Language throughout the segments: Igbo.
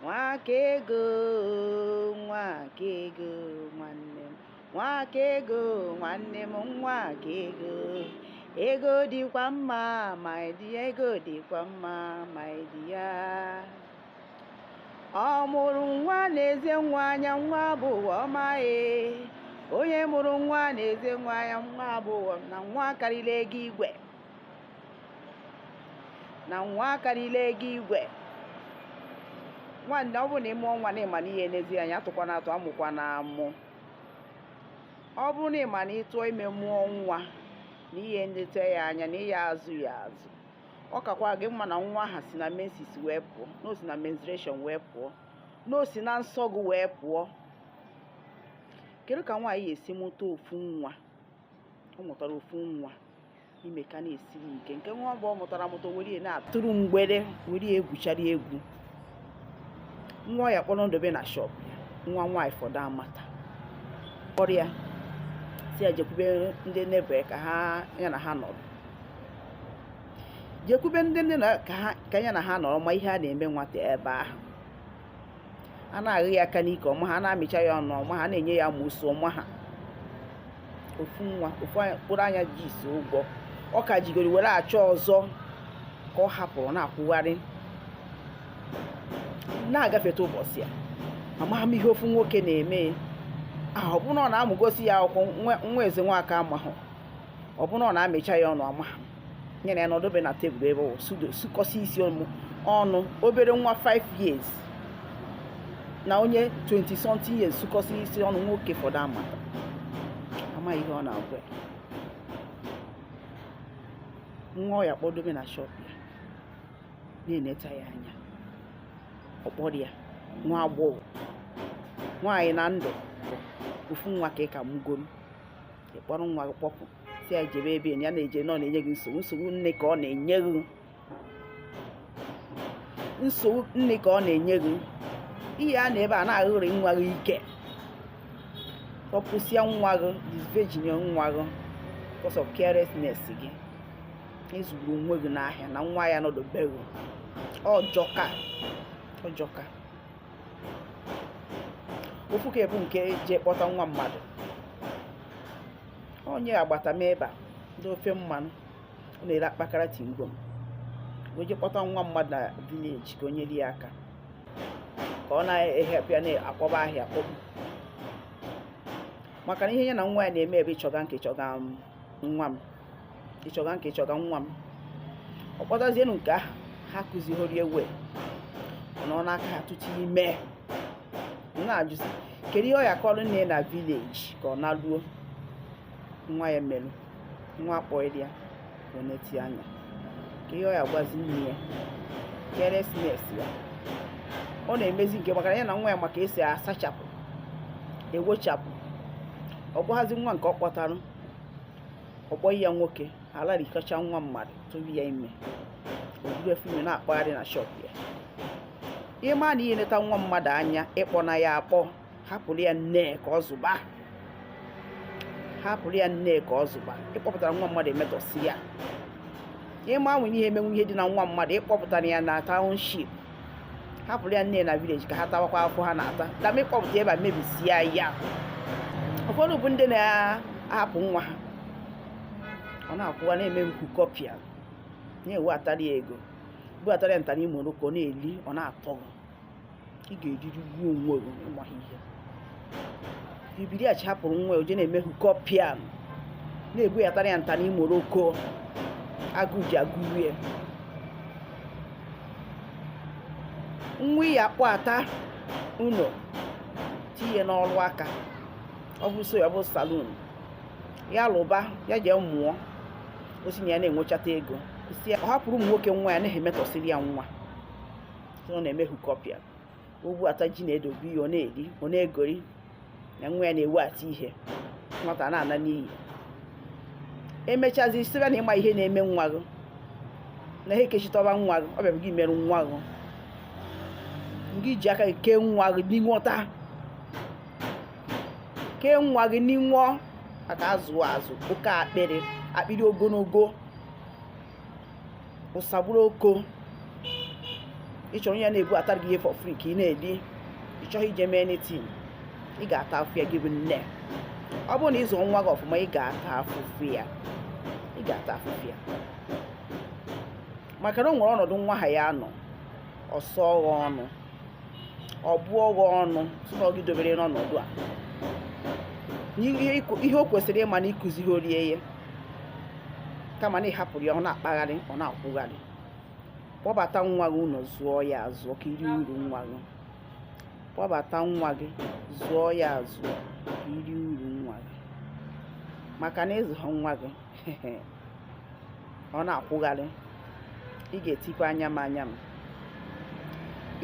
nwa ka ego nwa ka ego nwanne m nwa ka ego nwanne m nwa ka ego ego dịkwa mma my dear ego dịkwa mma my dear ọ mụrụ nwa nezie nwa anya nwa bụ ụwa ọma e onye mụrụ nwa nezie nwa anya nwa bụ ụwa na nwa karịrị ego igwe na nwa akarịla ego igwe nwanne ọ bụrụ na ị mụọ nwa na ị ma na ị ya-enezi anya atụkwana atụ amụkwana amụ ọ bụrụ na ị ma na ị tụọ ime mụọ nwa na ị ya-eneta ya anya na ị ya-azụ ya azụ ọ kakwa gị mma na nwa ahụ si na menses wee pụọ na o si na menstruation wee pụọ na o si na nsọ gị wee pụọ kedu ka nwaanyị ya-esi mụta ofu nwa ọ mụtara ofu nwa ime ka na-esiri ike nke nwa mgbe ọ mụtara amụta were ya na-atụrụ mgbere were ya egwuchari egwu nwa ọ ya-akpọrọ dobe na shọp nwa nwaanyị fọdụ amata kpọrọ ya sị ya jekwube ndị neighbour ka ha ya na ha nọrọ jekwube ndị neighbour ka ya na ha nọrọ ma ihe a na-eme nwata ebe ahụ a na-aghụ ya aka n'ike ọ maha a na-amịcha ya ọnụ ọ maha a na-enye ya amụsụ ọ maha ofu nwa ofu mkpụrụ anya ji isi ụgwọ ọ ka jigoro were achọ ọzọ ka ọ hapụrụ na-akwụgharị na-agafeta ụbọchị ya amaghị m ihe ofu nwoke na-eme ahụ ọ bụ na ọ na-amụgosi ya akwụkwọ nwa eze nwaka amahụ ọ bụ na ọ na-amịcha ya ọnụ amaghị m nyere ya nọdụbe na tebụl ebe ọ sukọsi isi ọnụ obere nwa 5 years na onye 20 something years sukọsi isi ọnụ nwoke fọdụ ama amaghị ihe ọ na-agwa nwa ọ ya-akpọdobe na shọp ya na-eneta ya anya ọ kpọrọ ya nwa agbọghọ nwaanyị na ndụ ofu nwa ka ị ka mụgoro ị kpọrọ nwa gị kpọpụ sị ya jebe ebe ya na-eje na ọ na-enye gị nsogbu nsogbu nne ka ọ na-enye gị nsogbu nne ka ọ na-enye gị ihe a na ebe a na-aghụrị nwa gị ike kpọpụsịa nwa gị disvirgin nwa gị because of carelessness gị ị zụrụ onwe gị n'ahịa na nwa ya nọdụbeghị ọ jọka ọ jọka ofu ke bụ nke je kpọta nwa mmadụ onye agbata m ebe a ndị ofe mmanụ ọ na-ere akpakara chewing gum o je kpọta nwa mmadụ na village ka o nyere ya aka ka ọ na-ehepụ ya na-akpọba ahịa akpọgbu maka na ihe ya na nwa ya na-eme ebe ị chọga nke ị chọga nwa m ịchọga nke ịchọga nwa m ọ kpọtazienụ nke ahụ ha akuzihoro ihe ọ nọ n'aka ha tutu ime na-ajụzi kedu ihe ọ ya-akọrọ nne na village ka ọ naruo nwa ya merụ nwa kpọrọ ya ka ọ na-eti anya kedu ihe ọ ya-agwazi nne ya carelessness ya ọ na-emezi nke maka ya na nwa ya maka esi asachapụ ewochapụ ọ gwaghazị nwa nke ọ kpọtara ọ kpọghị ya nwoke alarikọcha nwa mmadụ tụrụ ya ime o buru afọ ime na-akpagharị na shop ya ịma na ihe neta nwa mmadụ anya ị kpọna ya akpọ hapụrụ ya nne ka ọ zụba hapụrụ ya nne ka ọ zụba ịkpọpụtara nwa mmadụ emetọsie ya ịma nwere ihe emenwu ihe dị na nwa mmadụ ịkpọpụtara ya na township hapụrụ ya nne na village ka ha tawakwa afụfụ ha na-ata kama ịkpọpụta ebe a mebisie ya ụfọdụ bụ ndị na-ahapụ nwa ha ọ na-akwụwa na-eme hookup ya na-eweatara ya ego buatara ya ntara imo ọ na-eri ọ na-atọ ị ga-eriri gbuo onwe gị ịmaghị ihe Ibiriachi hapụrụ nwa o je na-eme hookup ya na-ebuatara ya ntara imoroko agụ ji agụ rie nwa ya akpọata ụnọ tinye n'ọrụ aka ọ bụ so ya ọ bụ salon ya lụba ya jee mụọ o si na ya na-enwechata ego sị ọ hapụrụ ụmụ nwoke nwa ya na-emetọsịrị ya nwa ọ na-eme hookup ya o buata ji na-edobe ihe ọ na-eri ọ na-egori na nwa ya na-eweata ihe nwata na-ana n'iyi emechazi sịba na ịma ihe na-eme nwa gị na ha ekechitọba nwa gị ọ bịa bụ gị merụ nwa gị ngị ji aka gị kee nwa gị n'inwọta kee nwa gị n'inwọ maka azụ azụ oke akpịrị akpịrị ogologo usa gburu oko ị chọrọ ya na-ebuatara gị ihe for free ka ị na-eri ị chọghị ije mee anything ị ga-ata afụ ya gị bụ nne ọ bụrụ na ịzụ nwa gị ọfụma ị ga-ata afụfụ ya ị ga-ata afụfụ ya maka na o nwere ọnọdụ nwa ahụ ya-anọ ọ sọọ gị ọnụ ọ bụọ gị ọnụ sị ọ gị dobere n'ọnọdụ a ihe o kwesịrị ịma na i kuzihoro ya kama na ị hapụrụ ya ọ na-akpagharị ọ na-akwụgharị kpọbata nwa gị ụlọ zụọ ya azụọ ka i rie uru nwa gị kpọbata nwa gị zụọ ya azụọ ka i rie uru nwa gị maka na ị zụhọ nwa gị ọ na-akwụgharị ị ga-etikwa anya m anya m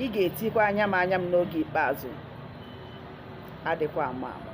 ị ga-etikwa anya m anya m n'oge ikpeazụ adịkwa ama ama